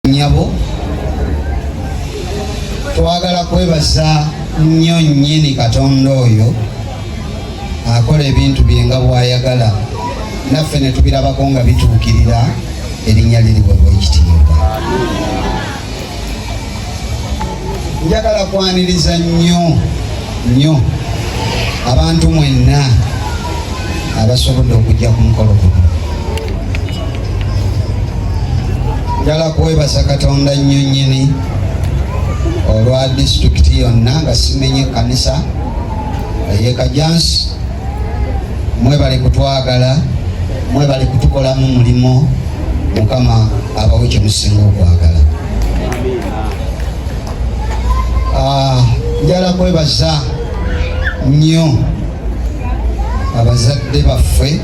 nyabo twagala kwebaza nnyo nnyini katonda oyo akola ebintu bye nga bwayagala naffe ne tubirabako nga bituukirira erinnya liriwebwa ekitiibwa njagala kwaniriza nnyo nnyo abantu mwenna abasobodde okujja ku mukolo guno njala kwebaza katonda nnyo nnyini olwa disitulikiti yonna nga simenye ekkanisa eyekajansi mwebali kutwagala mwebali kutukolamu mulimu mukama abawe kyemusinga okwagala Ah, njala kwebaza nnyo abazadde baffe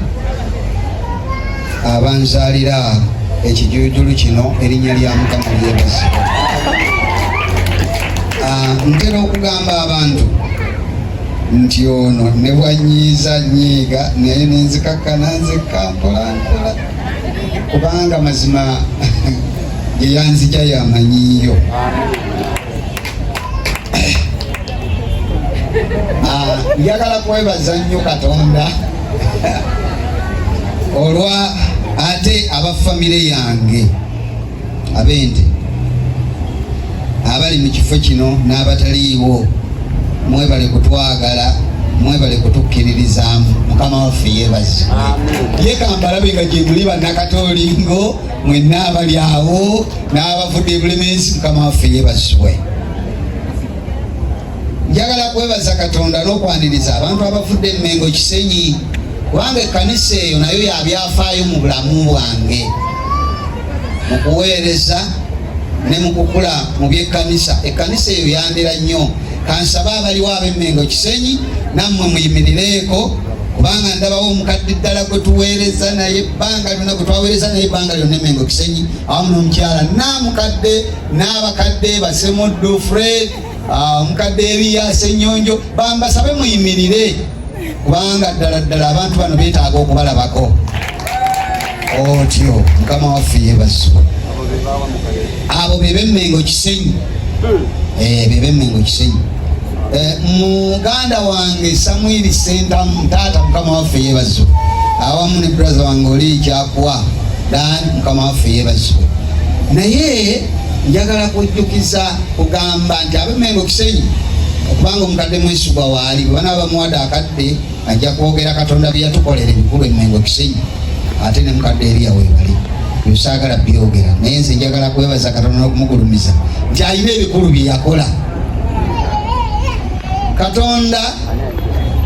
abanzalira ekijujulu kino erinnya lya mukama lyebaza ah, ntera okugamba abantu nti ono ne bwanyiiza nyiiga naye nenzikakkana nzekka mpolampola kubanga mazima yeyanzija yamanyiyo ah, njagala kwebaza nnyo katonda olwa ate aba famire yange ab'ente abali mu kifo kino n'abataliiwo mwebale kutwagala mwebale kutukkiririzaamu mukama waffe yebazi ye kambalabe nga gyemuli bannakatoolingo mwenna abali awo n'abavudde ebulemensi mukama waffe yebazibwe njagala kwebaza katonda n'okwaniriza abantu abavudde emmengo kisenyi kubanga ekkanisa eyo nayo yabyafaayo mu bulamu bwange mu kuweereza ne mu kukula mu by'ekkanisa ekkanisa eyo yandera nnyo kansaba abaliwo ab'emmengo kisenyi nammwe muyimirireeko kubanga ndabawo omukadde ddala gwe tuweereza naye ebbanga lyonna gwe twaweereza naye ebbanga lyonna emmengo kisenyi awamu n'omukyala naamukadde n'abakadde basemuddu fred Ah, omukadde ebiya senyonjo bambasabe muyimirire kubanga ddala ddala abantu bano betaaga okubalabako otyo mukama waffe yebazibwa abo bebemengo kisenyi eh, bebemengo kisenyi eh, muganda wange samwiri sentamu taata mukama waffe yebazibwa awamu ne braza wange oli kyakuwa dan mukama waffe yebazibwa naye njagala kujjukiza kugamba nti abemengo kisenyi okubanga omukadde mwesigwa waali bwe banaba bamuwade akadde ajja kwogera katonda bye yatukolera ebikulu emengo kisenyi ate ne mukadde eriya webali byosaagala byogera naye nze njagala kwebaza katonda n'okumugulumiza nti alina ebikulu bye yakola katonda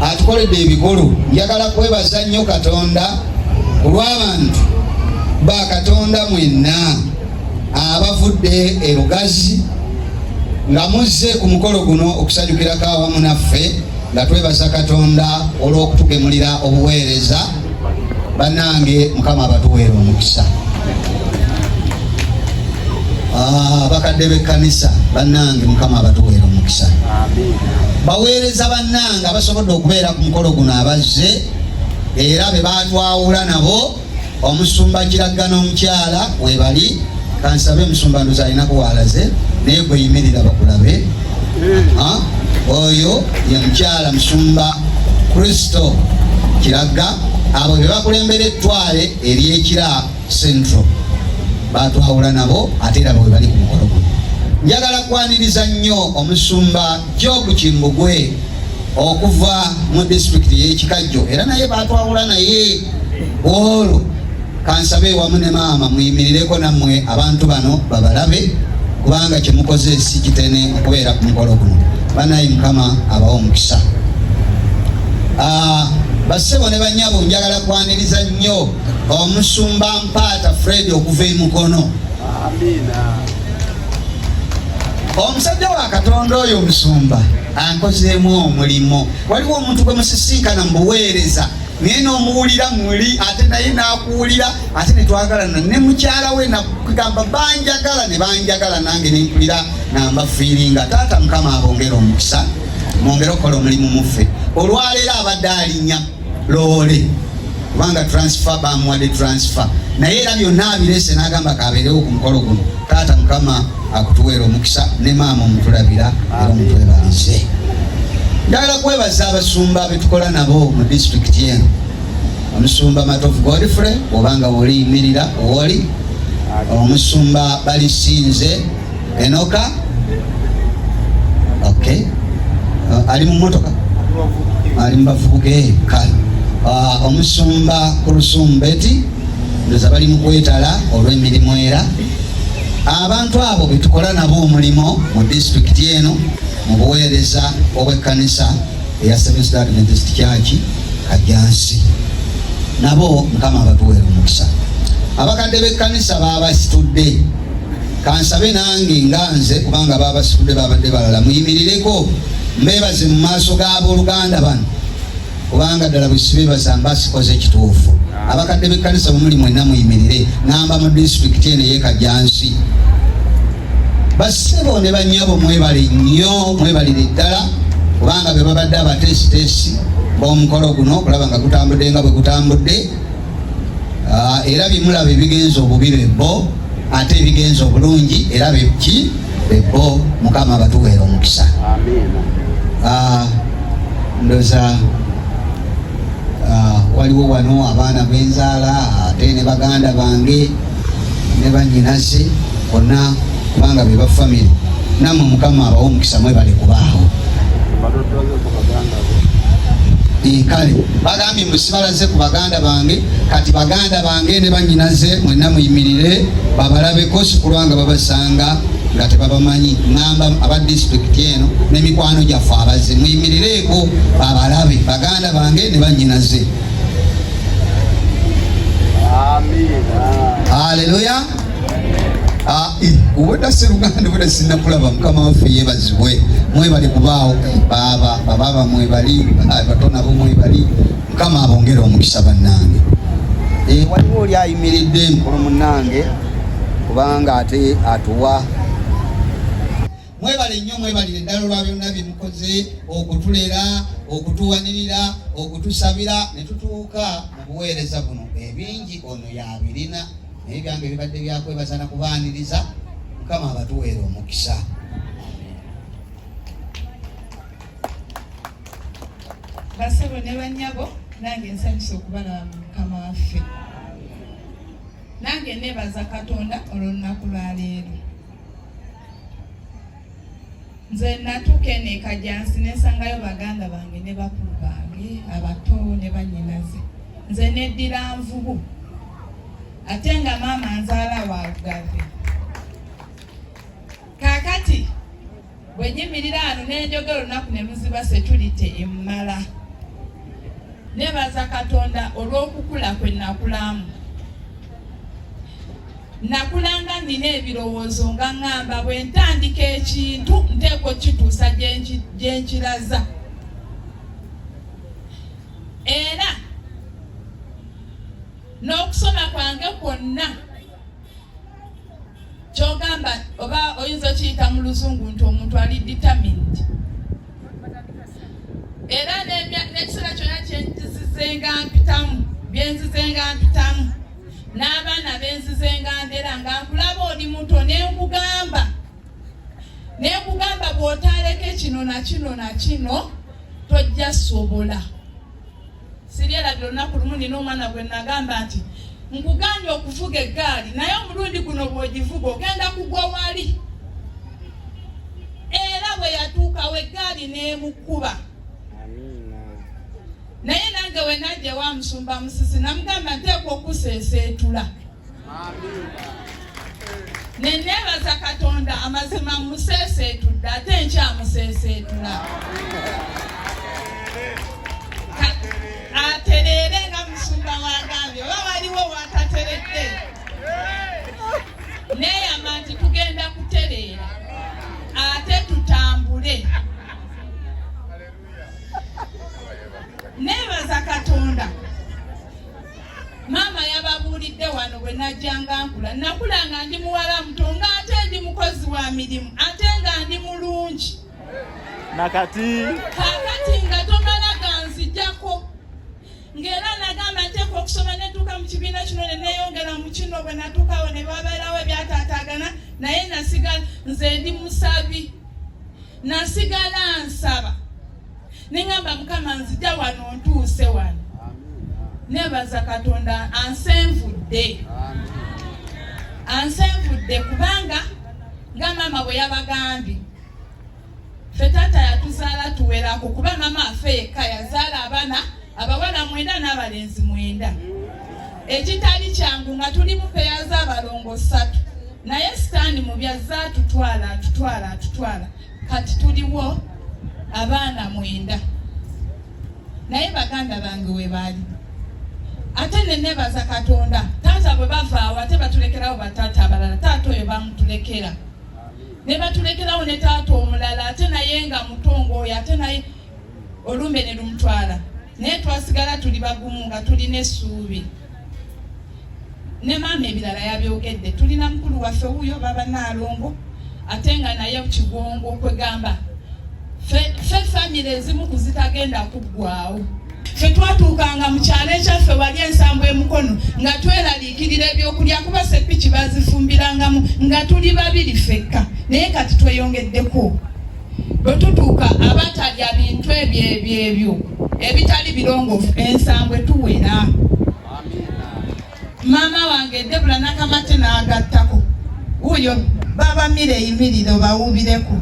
atukoledde ebikulu njagala kwebaza nnyo katonda olw'abantu ba katonda mwenna abavudde e Lugazi nga muzze ku mukolo guno okusanyukirako awamu naffe nga twebaza Katonda olw'okutugemulira obuweereza bannange mukama abatuweera omukisa Ah, bakadde b'ekkanisa bannange mukama abatuweera omukisa baweereza bannange abasobodde okubeera ku mukolo guno abazze era be baatwawula nabo omusumba kiragga n'omukyala webali kansabe omusumba ndozi alinako walaze naye gweyimirira bakulabe oyo ye mukyala musumba kristo kiragga abo bebakulembera ettwale eryekira central batwawula nabo ate era bwebali ku mukolo guno njagala kwaniriza nnyo omusumba Job Kimbugwe okuva mu disitulikiti y'ekikajjo era naye batwawula naye olwo kansabe wamu ne maama muyimirireko nammwe abantu bano babalabe kubanga kyemukoze si kitene okubeera ku mukolo guno banaye mukama abawa omukisa ah, basebo ne banyabo njagala kwaniriza nnyo omusumba mpaata fred okuva emukono omusajja wa katonda oyo omusumba ankozeemu omulimu waliwo omuntu gwe musisinkana mu buweereza naye nomuwulira muli ate naye nakuwulira ate netwagalana ne mukyala we nakugamba banjagala ne banjagala nange nenkulira namba fiiringa taata mukama abongere omukisa mwongere okukola omulimu muffe olwaleero abadde alinya loole kubanga transfer bamuwadde transfer naye era byonna abirese n'agamba kabeerewo ku mukolo guno taata mukama akutuweera omukisa ne maama omutulabira era omutwebalize njagala kwebaza abasumba betukola nabo mu disitulikiti eno omusumba matovu godfrey obanga woliyimirira woli omusumba balisinze Enoka okay. Uh, ali mu motoka ali mu bavubuka eh, kale uh, omusumba ku lusumbeti ndoza bali mu kwetala olw'emirimu era abantu abo betukola nabo omulimu mu disitulikiti eno mu buweereza obw'ekkanisa eya Seventh Day Adventist Church Kajjansi nabo mukama abatuweera omukisa abakadde b'ekkanisa baabasitudde Kansabe nange nga nze kubanga baabasitudde baabadde balala muyimirireko mbeebaze mu maaso g'abooluganda bano kubanga ddala bwe sibeebaza mba sikoze ekituufu abakadde b'ekkanisa bwe muli mwenna muyimirire ngamba mu disitulikiti eno ey'ekajjansi bassebo ne bannyabo mwebale nnyo mwebalire ddala kubanga be babadde abateesiteesi b'omukolo guno okulaba nga gutambudde nga bwe gutambudde ah, era bimulaba ebigenza obubi bebbo ate ebigenza obulungi era beki bebo mukama abatuweera omukisa ah, ndoza ah, waliwo wano abaana benzaala ate ne baganda bange ne banyinaze bonna kubanga beba famire namwe mukama abawo omukisa mwebale kubaawo kale bagambye mbu sibalaze ku baganda bange kati baganda bange ne banyinaze mwenna muyimirire babalabeko sikulwanga babasanga nga tebabamanyi ŋamba aba disitulikiti eno n'emikwano gyaffe abaze muyimirireeko babalabe baganda bange ne banyinaze haleluya Ah, eh, obwedda seruganda obwedda sinakulaba mukama waffe yebazibwe mwebali kubaawo baaba babaaba mwebali ah, bato nabo mwebali mukama abongere omukisa bannange eh, waliwo oli ayimiridde mukulu munnange kubanga ate atuwa mwebale nnyo mwebalire ddala olwa byonna bye mukoze okutulera okutuwanirira okutusabira ne tutuuka mu buweereza buno ebingi ono yabirina naye byange bibadde byakwebaza na kubaaniriza mukama abatuweera omukisa basebo ne banyabo nange nsanyusa okubalaba mu mukama waffe nange nebaza katonda olwolunaku lwaleero nze natuuka eno ekajansi nesangayo baganda bange ne bakulu bange abato ne banyinaze nze neddira nvubu ate nga maama nzaala wa lugave kaakati bwe nyimirira ano nenjogera olunaku ne luziba seturite emmala nebaza katonda olw'okukula kwe nakulamu nakulanga nina ebirowoozo nga ŋŋamba bwe ntandika ekintu nteeka okukituusa gye nkiraza era n'okusoma kwange kwonna kyogamba oba oyinza okiyita mu luzungu nti omuntu ali determined era n'ekiseera kyonna kyenzizizenga mpitamu byenzizenga mpitamu n'abaana benzizenga ndera nga nkulaba oli muto nenkugamba nenkugamba bw'otaaleke kino na kino na kino tojja sobola siryerabira olunaku lumu nina omwana gwe nagamba nti nkugambye okuvuga eggaali naye omulundi guno bw'ogivuga ogenda kugwa wali era bwe yatuukawo eggaali n'emukuba naye nange wenajja wa musumba musisi namugamba nteekwa okuseeseetula ne neebaza katonda amazima museeseetudde ate nkyamuseeseetula atereere nga musumba wagambye oba waliwo watateredde neeyama nti tugenda kutereera ate tutambule neebaza katonda maama yababuulidde wano bwe najjanga nkula nakula nga ndi muwala muto nga ate ndi mukozi wa mirimu ate nga ndi mulungi nakati kakati nga tomala ganzijako ng'era nagamba nteeka okusoma netuuka mu kibiina kino ne neyongera mu kino bwe natuukawo ne babeerawo ebyataataagana naye nasigala nze ndi musabi nasigala nsaba ne ŋŋamba mukama nzija wano ntuuse wano nebaza katonda ansenvudde ansenvudde kubanga nga maama bwe yabagambye fe taata yatuzaala tuwerako kuba maama afe yekka yazaala abana abawala mwenda n'abalenzi mwenda ekitali kyangu nga tuli mupeya z'abalongo satu naye sitaani mu byazza atutwala atutwala atutwala kati tuliwo abaana mwenda naye baganda bange webaali ate nenebaza katonda taata bwe bavaawo ate batulekerawo bataata abalala taata oyo bamutulekera ne batulekerawo ne taata omulala ate naye nga mutongo oyo ate naye olumbe ne lumutwala naye twasigala tuli bagumu nga tulina essuubi ne maama ebirala yabyogedde tulina mukulu waffe wuyo baba naalongo ate nga naye kigongo kwegamba fe famire ezimu kuzitagenda kuggwawo fe twatuukanga mu kyalo ekyaffe wali ensambu emukono nga tweraliikirira ebyokulya kuba sepiki bazifumbirangamu nga tuli babiri fekka naye kati tweyongeddeku bwe tutuuka abatalya bintu ebyo ebyo ebyo ebitali birongoofu ensangwe tuwera maama wange debula nakamate n'agattako wuuyo babamire eyimiriro bawuubireko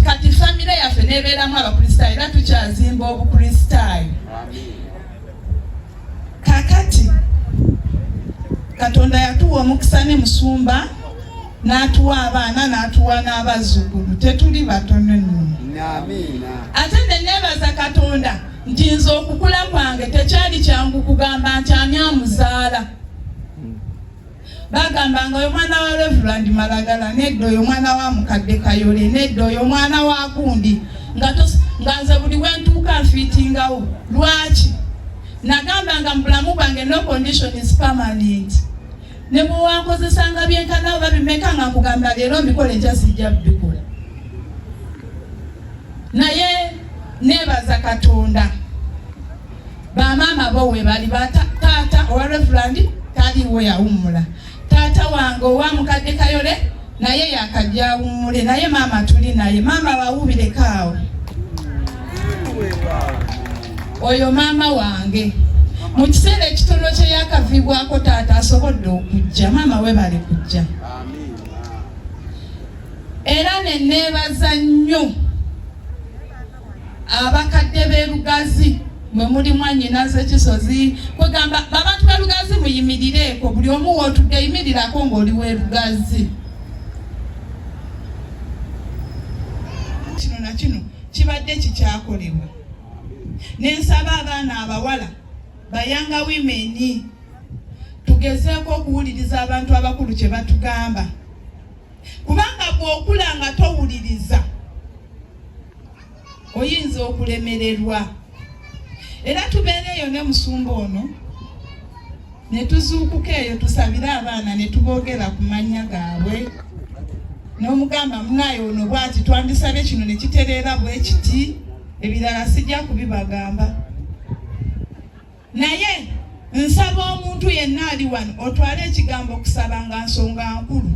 kati famire yaffe nebeeramu abakristaayo era tukyazimba obukristaayo kakati katonda yatuwa omukisa ne musumba n'atuwa abaana n'atuwa n'abazzukulu tetuli batono nno ate ne neebaza katonda nti nze okukula kwange tekyali kyangu kugamba nti ani amuzaala bagamba nga oyo mwana wa reverand malagala nedda oyo mwana wa mukadde kayole nedda oyo mwana wa gundi nga nze buli wentuuka nfiitingawo lwaki nagamba nga mubulamu bwange no condition is permanent ne bwe wankozesanga byenkana oba bimeka nga nkugamba leero mbikola enkya sijja bikola naye nebaza katonda bamaama bo webali bataata owa reverandi taliwo yawummula taata wange owa mukadde kayole naye yakajja awummule naye maama tuli naye maama wawubirekawo oyo maama wange mu kiseera ekitono kye yakavibwako taata asobodde okujja maama we bali kujja era neneebaza nnyo abakadde b'e Lugazi mwe muli mwanyinaze kisozi kwegamba babantu b'e Lugazi muyimirireeko buli omu wootudde yimirirako ng'oli w'e Lugazi kino na kino kibadde kikyakolebwa nensaba abaana abawala bayanga wimeni tugezeeko okuwuliriza abantu abakulu kye batugamba kubanga bw'okula nga towuliriza oyinza okulemererwa era tubeera eyo ne musumba ono ne tuzuukuka eyo tusabire abaana ne tuboogera ku mannya gaabwe n'omugamba munaye ono bwati twandisabye kino ne kitereera bwe kiti ebirala sijja kubibagamba naye nsaba omuntu yenna ali wano otwale ekigambo okusaba nga nsonga nkulu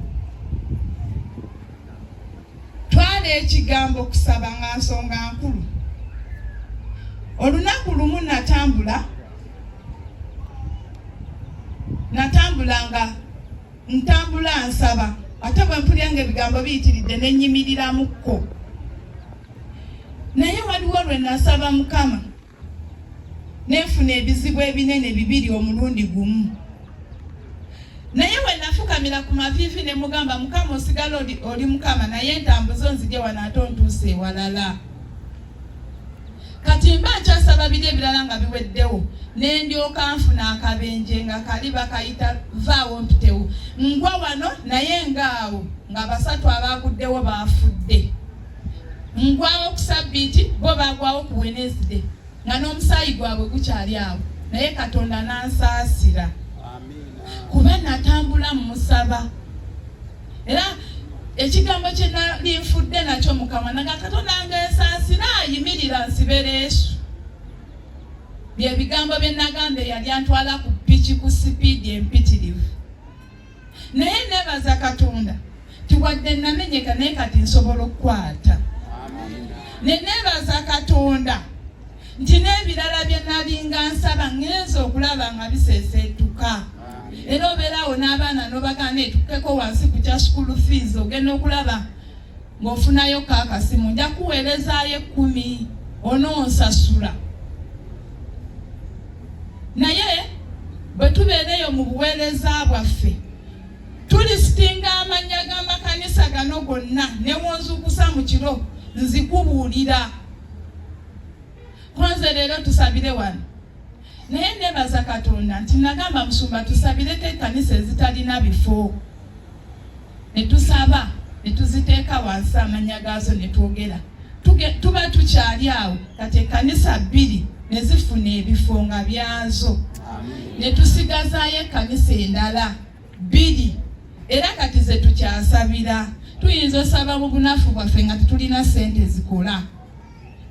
twala ekigambo okusaba nga nsonga nkulu olunaku lumu natambula natambula nga ntambula nsaba ate bwe mpulira nga ebigambo biyitiridde ne nnyimiriramo kko naye waliwo lwe nasaba mukama nenfuna ebizibu ebinene bibiri omulundi gumu naye wenafukamira ku maviivi ne mugamba mukama osigala oli mukama naye entambuzo nzije wano ate ontuuse ewalala kati mba nkyasaba biri ebirala nga biweddewo nendyoka nfuna akabenje nga kali bakayita vaawo mpitewo ngwa wano naye ngaawo nga basatu abaaguddewo baafudde ngwawo ku sabbiiti bo bagwawo ku wenesde nga n'omusaayi gwabwe gukyali awo naye katonda nansaasira kuba natambula mumusaba era ekigambo kye nali nfudde nakyo mukama naga katonda ngesaasira ayimirira nsibera esu byebigambo bye nagamba eyali antwala ku piki ku sipiidi empitirivu naye nebaza katonda tiwadde namenyeka naye kati nsobola okukwata nenebaza katonda nti n'ebirala bye nalinga nsaba ŋŋenza okulaba nga biseeseetuka era obeerawo n'abaana n'obagaana etukeko wansi ku kya school fees ogenda okulaba ng'ofunayo ko akasimu nja kuweerezaayo ekkumi onoonsasula naye bwe tubeera eyo mu buweereza bwaffe tulisitinga amannya g'amakanisa gano gonna ne wonzuukusa mu kiro nzikubuulira konze leero tusabire wano naye nebaza katonda nti nagamba musumba tusabireko ekanisa ezitalina bifo netusaba netuziteeka wansi amanya gaazo netwogera tuba tukyali awo kati ekanisa bbiri nezifuna ebifo nga byazo netusigazayo ekanisa endala bbiri era kati zetukyasabira tuyinza osaba mu bunafu bwaffe nga tetulina sente zikola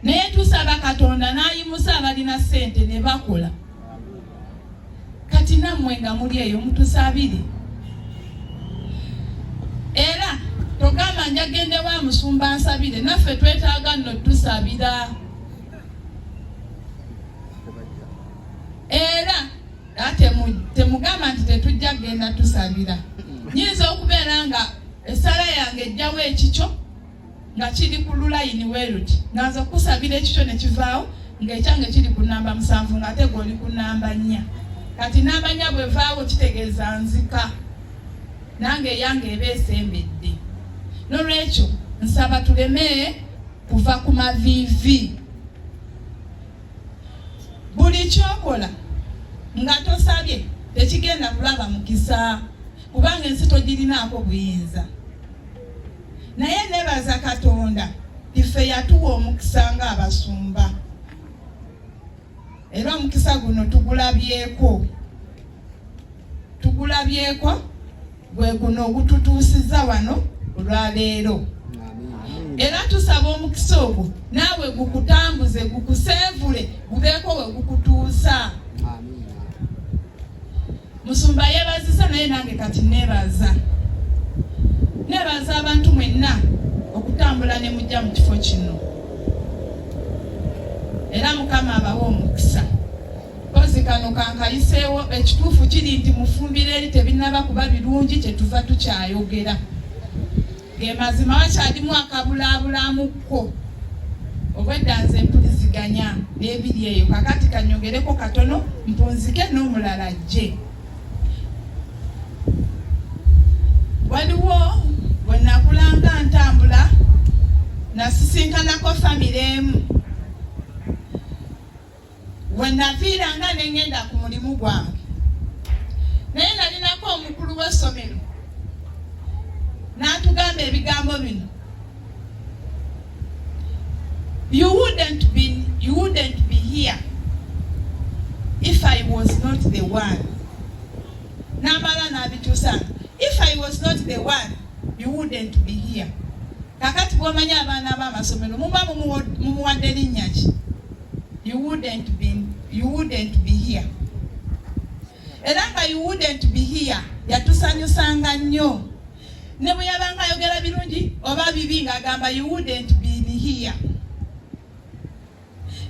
naye tusaba katonda n'ayimusa abalina ssente ne bakola kati nammwe nga muli eyo mutusabire era togamba njagende wa musumba nsabire naffe twetaaga nno tusabira era temugamba nti tetujja kugenda tusabira nyinza okubeera nga esala yange ejjawo ekikyo nga kiri ku lulayini weruti nga nze kukusabira ekikyo ne kivaawo ng'ekyange kiri ku namba musanvu ng'ate gweoli ku namba nnya kati namba nnya bwevaawo kitegeeza nzika nange eyange eba esembedde nolwekyo nsaba tuleme kuva ku maviivi buli kyokola nga tosabye tekigenda kulaba mukisa kubanga ensi togirinaako buyinza naye nebaza katonda ife yatuwa omukisa nga abasumba era omukisa guno tugulabyeko tugulabyeko gwe guno ogututuusiza wano olwaleero era tusaba omukisa ogwo naawe gukutambuze gukuseevule gubeeko we gukutuusa Musumba yebaziza naye nange kati nebaza nebaza abantu mwenna okutambula ne mujja mu kifo kino era mukama abawa omukisa kozi kano kankayiseewo ekituufu kiri nti mufumbira eri tebinaba kuba birungi kyetuva tukyayogera ge mazima wakyalimu akabulaabulaamukko obwedda nze mpuliziganya n'ebiri eyo kakati kanyongereko katono mpunzike n'omulala ajje waliwo bwe nakulanga ntambula nasisinkanako famire emu we naviiranga ne ŋŋenda ku mulimu gwange naye nalinako omukulu w'essomero n'atugamba ebigambo bino you wouldn't be, you wouldn't be here if I was not the one n'amala n'abituusa if I was not the one you wouldn't be here kakati bw'omanya abaana b'amasomero muba mumuwadde linnya ki you wouldn't be, you wouldn't be here era nga you wouldn't be here yatusanyusanga nnyo ne bwe yabanga ayogera birungi oba bibi ng'agamba you wouldn't be here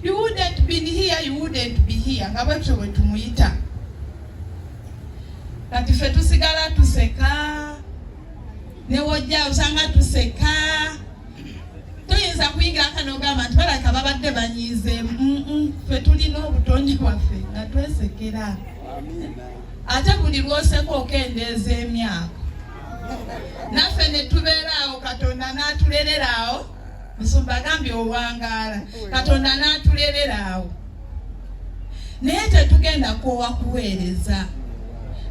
you wouldn't be here you wouldn't be here nga bwetyo bwe tumuyita kati ffe tusigala tuseka newojja osanga tuseka toyinza kuyingira aka nogamba nti balabika babadde banyiize ffe tulina obutonde bwaffe nga twesekera ate buli lwoseka okendeeza emyaka naffe netubeera awo katonda n'atulerera awo musumba agambye owangaala katonda n'atulerera awo naye tetugenda kwowa kuweereza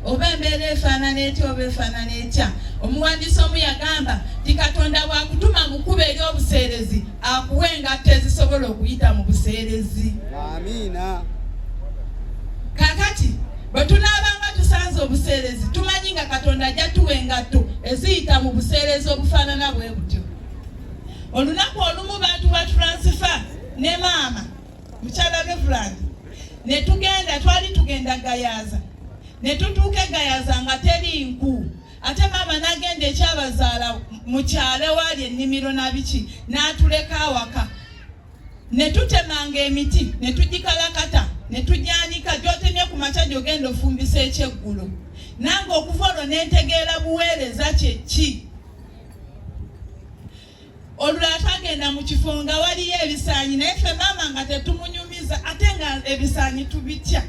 oba embeera efaanana etya oba efaanana etya omuwandiisi omu yagamba nti katonda bwakutuma mu kkuba ery'obuseerezi akuwa engatto ezisobola okuyita mu buseerezi amiina kakati bwe tunaabanga tusanze obuseerezi tumanyi nga katonda ajja tuwa engatto eziyita mu buseerezi obufaanana bwe butyo olunaku olumu bantu ba turansifa ne maama mukyala Reverand ne tugenda twali tugenda Gayaza ne tutuuka e Gayaza nga teri nku ate maama n'agenda ekyabazaala mu kyalo ewaali ennimiro na biki n'atuleka awaka ne tutemanga emiti ne tugikalakata ne tugyanika gy'otemye ku makya gy'ogenda ofumbisa ekyeggulo nange okuva olwo ne ntegeera buweereza kye ki olwatagenda mu kifo nga waliyo ebisaanyi naye ffe maama nga tetumunyumiza ate nga ebisaanyi tubitya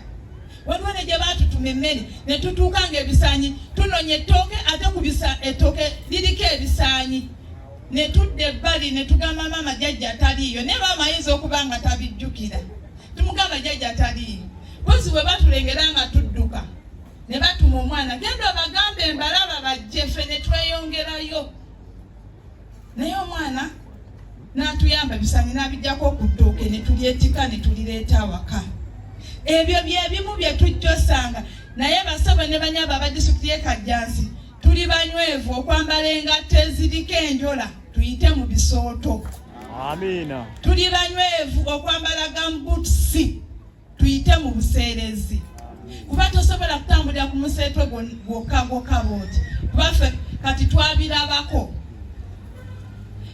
waliwo ne gye baatutuma emmere ne tutuuka nga ebisaanyi tunonya ettooke ate ku ettooke liriko ebisaanyi ne tudda ebbali ne tugamba maama jajja taliiyo naye maama ayinza okuba nga tabijjukira tumugamba jajja taliiyo mpozi bwe batulengera nga tudduka ne batuma omwana genda obagambe mbalaba bajje ffe ne tweyongerayo naye omwana n'atuyamba ebisaanyi n'abijjako ku ttooke ne tulyetika ne tulireeta awaka ebyo bye bimu bye tujja osanga naye basabo ne banyaba aba disitulikiti y'e kajjansi tuli banywevu okwambala engatto eziriko enjola tuyite mu bisooto amiina tuli banywevu okwambala gambutusi tuyite mu buseerezi kuba tosobola kutambulira ku museetwe gwokka gwokka booti kubaffe kati twabirabako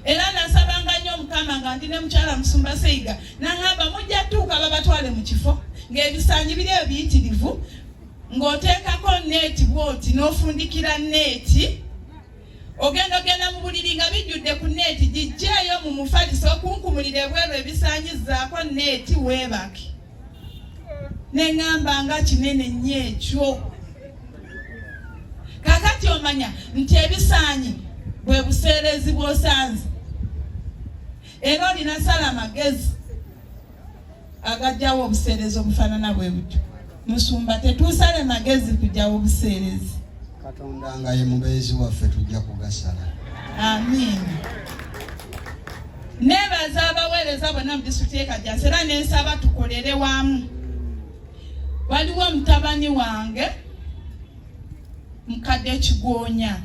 era nasabanga nnyo omukama nga ndi ne mukyala musumba seiga naŋamba mujja tuuka babatwale mu kifo ng'ebisanyi biri ebyo biyitirivu ng'oteekako neeti bwoti n'ofundikira neeti ogenda ogenda mu buliri nga bijjudde ku neeti gijjeeyo mu mufaliso okunkumulira ebweru ebisanyizaako neeti weebake ne ŋŋamba nga kinene nnyo ekyo kakati omanya nti ebisaanyi bwe buseerezi bw'osanze era olina sala magezi agajjawo obuseerezi obufaanana bwe butyo musumba tetuusale magezi kujjawo obuseerezi katonda nga ye mubeezi waffe tujja kugasala amiina nebaza abaweereza bonna mu disitulikiti yekajasi era nensaba tukolere wamu waliwo omutabani wange mukadde kigoonya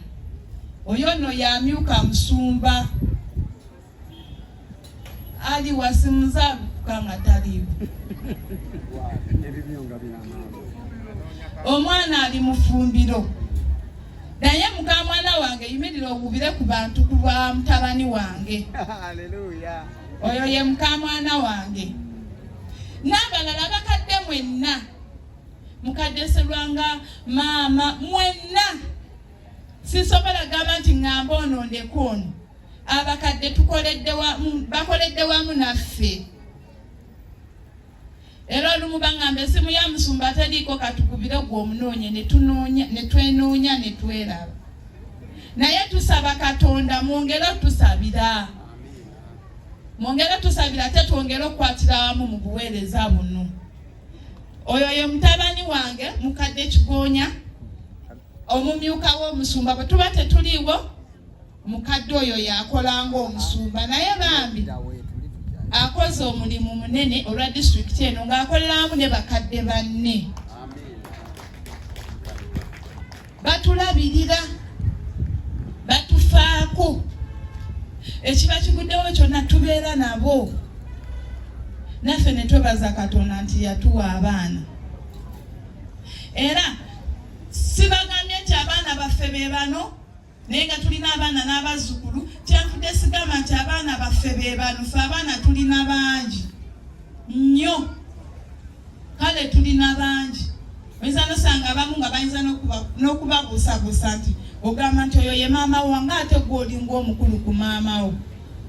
oyo no yamyuka musumba Ali wasimza kanga talibu omwana ali mufumbiro naye muka mwana wange yimirira owubire ku bantu ku lwa mutabani wange oyo ye muka mwana wange n'abalala bakadde mwenna mukadde serwanga maama mwenna sisobola gamba nti ŋŋamba ono ndeka ono abakadde tukoledde wamu bakoledde wamu naffe era olumu baŋŋamba esimu ya musumba teriiko katukubire gwe omunoonye ne twenoonya ne tweraba naye tusaba katonda mwongere otusabira mwongere otusabira ate twongere okukwatira wamu mu buweereza buno oyo ye mutabani wange mukadde kigoonya omumyuka w'omusumba bwe tuba tetuliiwo mukadde oyo yakola ng'omusumba naye bambi akoze omulimu munene olwa disitulikiti eno ng'akoleramu ne bakadde banne batulabirira batufaako ekiba kiguddewo kyonna tubeera nabo naffe ne twebaza katonda nti yatuwa abaana era sibagambye nti abaana baffe be bano naye nga tulina abaana n'abazzukulu kyenfudde sigamba nti abaana baffe be banufe abaana tulina bangi nnyo kale tulina bangi oyinza nosanga abamu nga bayinza n'okubabuusabuusa nti ogamba nti oyo ye maama wo nga ate gwe olinga omukulu ku maama wo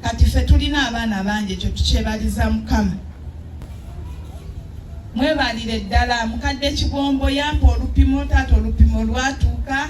kati ffe tulina abaana bangi ekyo tukyebaliza mukama mwebalire ddala mukadde kigombo yampa olupimo taata olupimo lwatuuka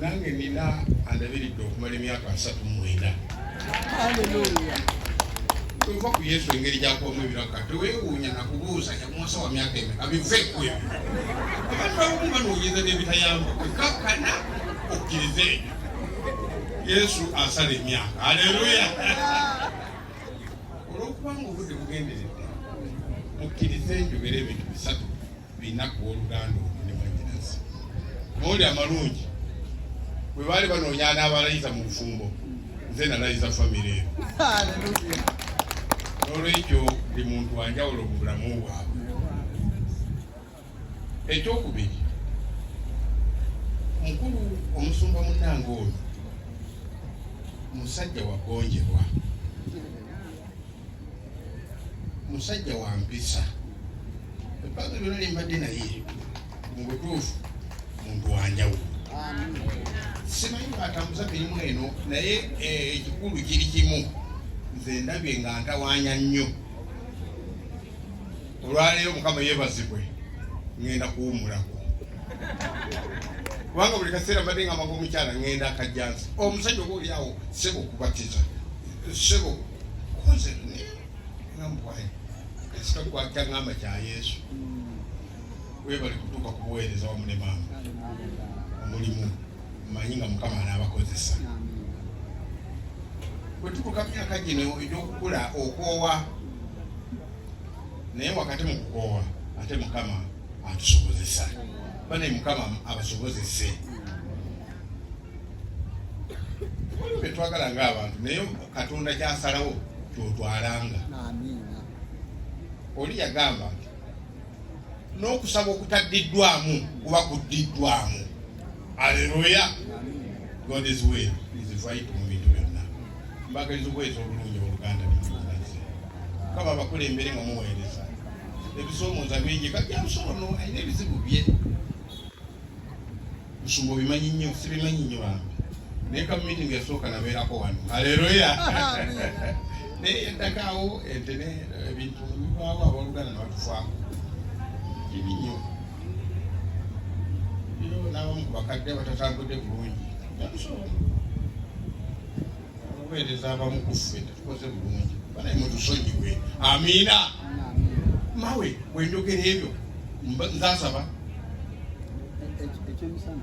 nange nina andabiridde okumala emyaka asatu mwenda tova ku yesu engeri gyakubamu ebiraka tewewuunya nakubuuza yamuwasa wa myaka eme abiveku ebyo abantu abamu banoonyeza n'ebitayamba kwekakkana okkiriza ebyo yesu asala emyaka aleluya olwokubanga obudde bugenderedde mukkirize njogera ebintu bisatu binnaku w'oluganda ono ne mwanyinazi mawuli amalungi bwe baali banoonya anaabalayiza mu bufumbo nze nalayiza famire eno n'olwekyo buli muntu wanjawulo mu bulamu bwabwe ekyokubiri mukulu omusumba munange oyo musajja wagonjerwa musajja wa mpisa ebbanga lyona lyembadde naye mu butuufu muntu wanjawulo simanyi bwatambuza mirimu eno naye eh, ekikulu kiri kimu nze ndabye nga ntawanya nnyo olwaleero mukama yebazibwe ngenda kuwumulako kubanga buli kaseera mbadde nga mbaga omukyala ngenda akajjansi omusajja oba oliawo sebo okubatiza sebo koze nga mukwaye kasika kwakya ngamba kya yesu webali kutuuka ku buweereza wamu ne maama omulimu manyi nga mukama anaabakozesa bwe tutuuka myaka gino egy'okukula okwowa naye wakati mu kukoowa ate mukama atusobozesa bane mukama abasobozese waliwo betwagala nga abantu naye katonda kyasalawo kyotwalanga oli yagamba nti n'okusaba okutaddiddwamu kuba kuddiddwamu Aleluya. God is way is right mu bintu byonna. Mbagaliza okweza obulungi oluganda byemugazi. Kaba abakulembere nga muweereza. Ebisomooza bingi kati amusobono alina ebizibu bye. Musumba obimanyi nnyo, sibimanyi nnyo bambi. Naye ka meeting yasooka nabeerako wano. Aleluya. Naye yaddakaawo ente ne ebintu bibaawo abaluganda ne batufaako. Kibi nnyo. n'abamu ku bakadde abatatambudde bulungi okuweereza abamu ku ffe tetukoze bulungi banaye mutusonyiwe amiina mawe wenjogera ebyo nzasaba ekyemisana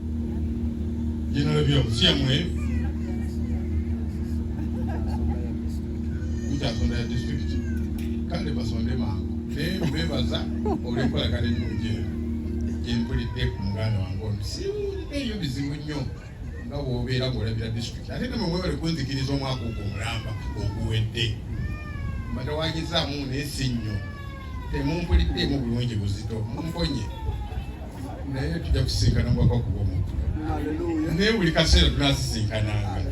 Jina la Bwana si amwe. Utasonda ya district. Kande basonde mangu. Ne mbebaza olikola kale nuje. Jempuli de kumuganda wangu. Si eyo bizibu nnyo nga bwobeera ng'olabira district ate ne mwewale kunzikiriza omwaka ogwo omulamba oguwedde mbatawanyizaamu naye si nnyo temumpuliddeemu bulungi buzito mumponye naye tujja kusisinkana mubaka okuba omuntu naye buli kaseera tunasisinkananga